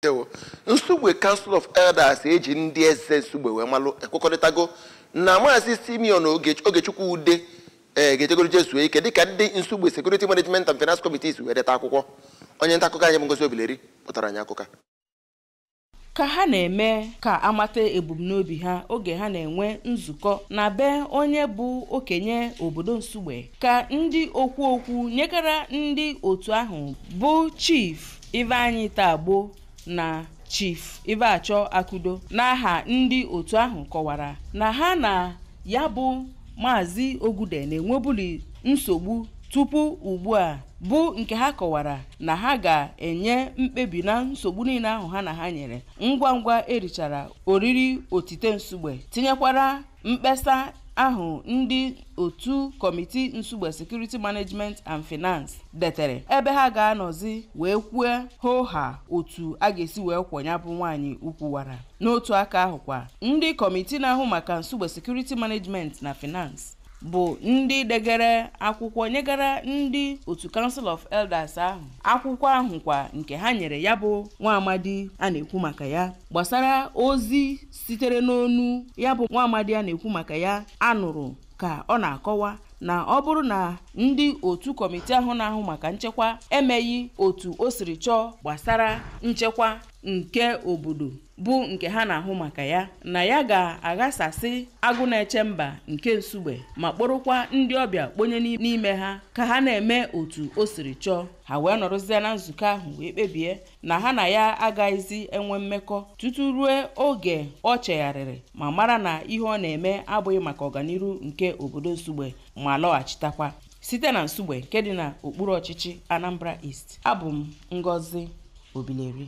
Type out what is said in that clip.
Ndewo. Nsugbe Council of Elders e ji ndị eze Nsugbe wee malụ ekwekọrịtago na maazị Simeon Oge- Ogechukwu Ude ee ga-ejegoro je zuo ike dịka ndị Nsugbe Security Management and Finance Committee si wee deta akwụkwọ onye nta akụkọ anyị bụ Ngozi Obileri kpụtara anyị akụkọ a. ka ha na-eme ka a mata ebumnobi ha oge ha na-enwe nzukọ na be onye bụ okenye obodo nsugbe ka ndị okwu okwu nyekara ndị otu ahụ bụ chief Ifeanyi Tagbo na chief Ifeachọ Akudo n'aha ndị otu ahụ kọwara na ha na ya bụ maazị Oge Ude na-enwebuli nsogbu tupu ugbu a bụ nke ha kọwara na ha ga-enye mkpebi na nsogbu niile ahụ ha na ha nyere ngwa ngwa e richara oriri otite nsugbe tinyekwara Mkpesa ahụ ndị otu kọmiti Nsugbe Security Management and Finance detere ebe ha ga-anọzi wee kwue hoo haa otu a ga-esi wee kwọ ya bụ nwaanyị ukwu wara. N'otu aka ahụ kwa, ndị kọmiti na-ahụ maka Nsugbe Security Management na Finance bụ ndị degere akwụkwọ nyegara ndị otu Council of Elders ahụ akwụkwọ ahụ kwa nke ha nyere ya bụ nwa amadi a na-ekwu maka ya gbasara ozi sitere n'ọnụ ya bụ nwa amadi a na-ekwu maka ya a nụrụ ka ọ na-akọwa na ọ bụrụ na ndị otu kọmitii ahụ na-ahụ maka nchekwa emeghị otu o siri chọọ gbasara nchekwa nke obodo bụ nke ha na-ahụ maka ya na ya ga-aghasasị agụ na-eche mba nke nsugbe ma kpọrọkwa ndị ọbịa kponye n'ime ha ka ha na-eme otu o siri chọọ ha wee nọrọzie na nzukọ ahụ wee kpebie na ha na ya agaghịzi enwe mmekọ tutu ruo oge o chegharịrị ma mara na ihe ọ na-eme abụghị maka ọganiru nke obodo Nsugbe ma lọghachitakwa site na Nsugbe nke dị na okpuru ọchịchị Anambra East abụ m Ngozi Obileri